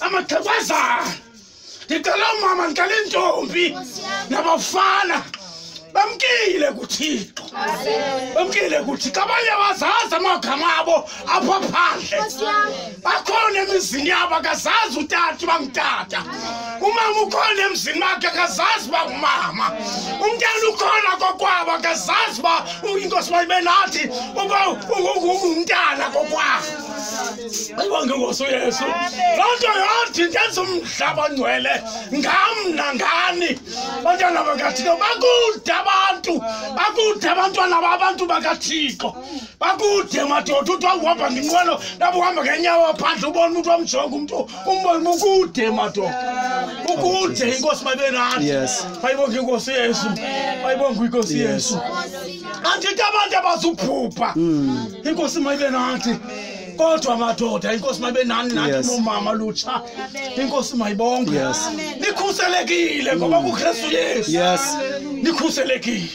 amaxhekwazana ndicela umama ndicela iintombi nabafana bamkile kuthixo bamkile kuthixo abanye abazazi amagama abo apha phandle bakhona emizini yabo akazazi utata uba ngutata umama ukhona emzini wakhe akazazi uba ngumama umntana ukhona kokwabo akazazi uba inkosi bayibe nathi uba ungumntana kokwabo ngengoso yesu loo nto yathi ndenza umhlaba ongcwele ngam nangani bantwana bakathixo bakude abantu bakude abantwana babantu bakathixo bakude madoda uthi wakuhamba ngenqwelo nabo uhamba ngenyawo phandle ubona umntu wamjonga umntu umbona ukude madoda ukude inkosi mabenati bayibonga inkosi yesu bayibonga inkosi yesu andithi abantu abazuphupha hmm. inkosi mayibe nathi kodwa madoda inkosi mabe nani nathi Yes. momama lutsha inkosi mayibonge Yes. nikhuselekile ngoba kukristu yesu Yes. nikhuselekile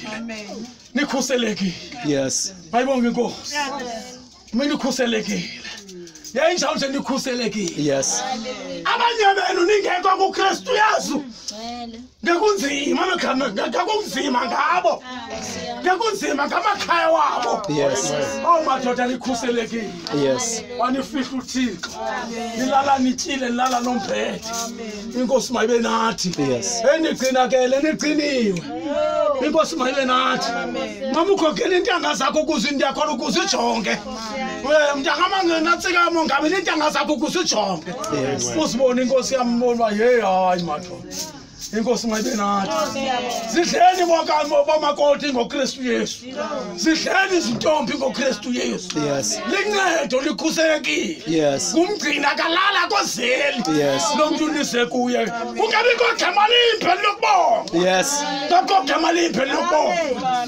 nikhuselekile Yes. mayibonge inkosi uma nikhuselekile yayinjalo nje nikhuselekile Yes. abanye benu ningekho kukristu yesu ngakunzima amagama nga- ngakunzima ngabo ngakunzima ngamakhaya wabo Yes. awu madoda likhuselekile Yes. wanifihla uthixo nilala nityile nilala nombhethe inkosi mayibe nathi Yes. enigcinakele niqiniwe inkosi mayibe nathi mamukhokele iintanga zakho ukuze ndiyakhona ukuze ujonge Eh, mntangamangenatsikamo ngabe neentanga zakho ukuze ujonge Yes. uzibone inkosi yambona uba yeyi hayi madoda inkosi mayibe nathi zidleni bomakoti ngokristu yesu zidleni izintombi ngokristu yesu lincedo likhuselekile kumgcina kalala kozeli lo mntu unise kuye kungabikho gama limpheli lokubonga ngakho gama limpheli lokubonga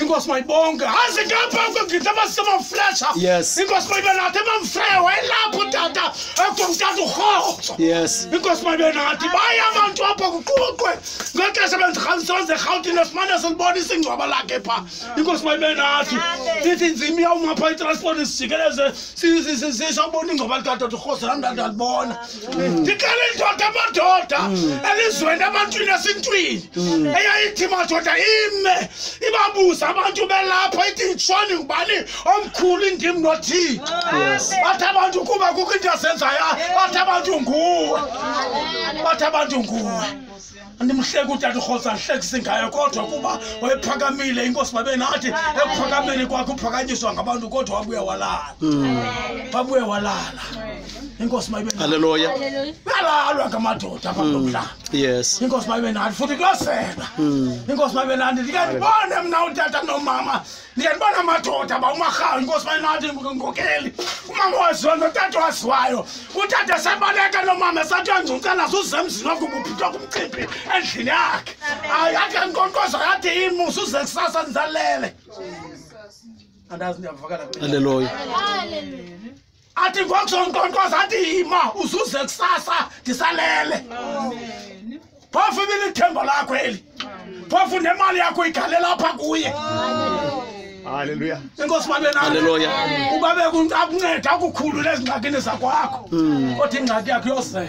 inkosi mayibonke aze ngapha kwegidi abasema mfresha Yes. inkosi mayibe nathi emamfreya wayelapho tata ekomtata urhozo Yes. inkosi mayibe nathi baye abantu apha kuqhuqwe ngexesha bendirhambisoze erhawutini esimane silibona isingcwaba lakhe pha inkosi mayibe nathi sithi nzima iyawuma pha itransport sijikeleze sisabona ingcwaba likatata urhozo nam ndandalibona ndiqale indoda amadoda elizweni ebantwini esintwini eyayithi madoda ime ibabuze abantu belapha ithi ndishoni ngubani omkhulu indim nothixo bathi abantu kuba kukho into azenzayo bathi abantu nguwe bathi abantu nguwe andimhleki utata urhosa ndihlekise ngayo kodwa kuba wayephakamile inkosi babe nathi ekuphakameni kwakhe uphakanyiswa ngabantu kodwa wabuye walala wabuye walala inkosi mayibealeluya balalwa ngamadoda abamlaa mm. yes inkosi mayibe nathi futhi kuyosela mm. inkosi mayibe nathi ndikandibone mna utata nomama ndiyanibona amadoda uba umarhawu inkosi bayinathi ngokeli umama waziwa notata waziwayo utata sebaleka nomama esathi uyangcunca nazo uzemzini wakuba uphithwa kumcimbi endlini yakhe hayi akhe nkonkozo yathi imusa uze kusasa ndizalele andazi ndiyavakala aleloya athi ngokusonkonkoza athi yima uzuze kusasa ndisalele phofu ibilithembo lakho eli phofu nemali yakho igalela apha kuye halleluya inkosi mabenaleluya uba bekunceda kunceda kukhulula ezingxakini zakwakho kodwa ingxaki yakho yozela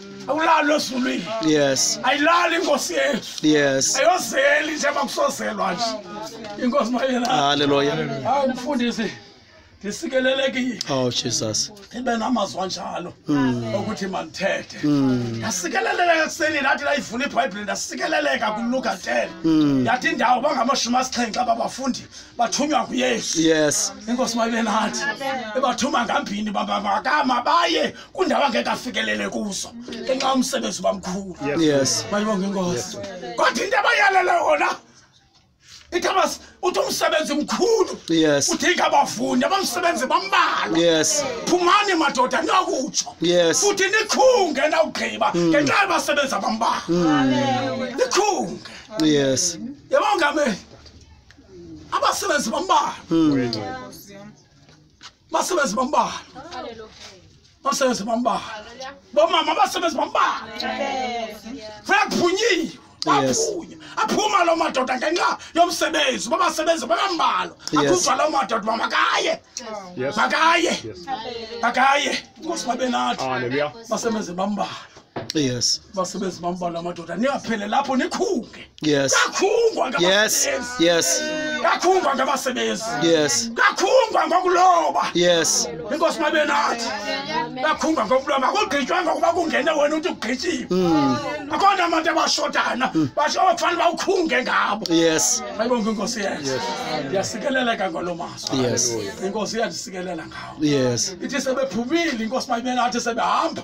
awulalo ezulwini yes ayilali inkosi yethu yes ayozeli njengoba kusozelwa nje inkosi mayela haleluya hayi mfundisi ndisikelelekile oh jesus ibe namazwi anjalo hmm. okuthi mandithethe hmm. ndasikeleleka ekuseni ndathi ndayivula ibhayibhile ndasikeleleka kuluka 10 hmm. yathi indawo bangamashumi asixhenxe ababafundi bathunywa nguyesu yes inkosi mayibe nathi ibathuma ngambini babavakama baye kundawo angeke afikelele kuzo ngenxa umsebenzi bamkhulu yes mayibonge inkosi kodwa into abayalele yona ithabas uthi umsebenzi mkhulu yes udinga abafundi abamsebenzi bambalwa yes phumani madoda niyakutsho yes futhi nikhunge nawugqiba mm. ngenxa yabasebenzi abambalwa mm. nikhunge yes yabongameli abasebenzi bambalwa mm. masebenzi bambalwa masebenzi bambalwa bomama basebenzi bambalwa funeka kuphunyiwe Yes. aphunya aphuma loo madoda ngenxa yomsebenzi uba basebenzi bakambalwa Yes. akhupha loo madoda uba makaye Yes. makaye Yes. makaye inkosi babe nathi Hallelujah. basebenzi bambalwa yes basebenzi bambala amadoda niyaphele lapho nikhunge yes kakhungwa yes yes kakhungwa ngabasebenzi yes kakhungwa ngokuloba yes inkosi mabe nathi kakhungwa ngokuloba makugqitywanga ukuba kungene wena uthi ugqityiwe hmm. akhona abantu abashodana hmm. basho abakufanele bawukhunge ngabo yes ayibonke inkosi yethu ndiyasikeleleka ngolo maso yes inkosi iyandisikelela ngawo yes ithi sebephumile inkosi mayibe nathi sebehamba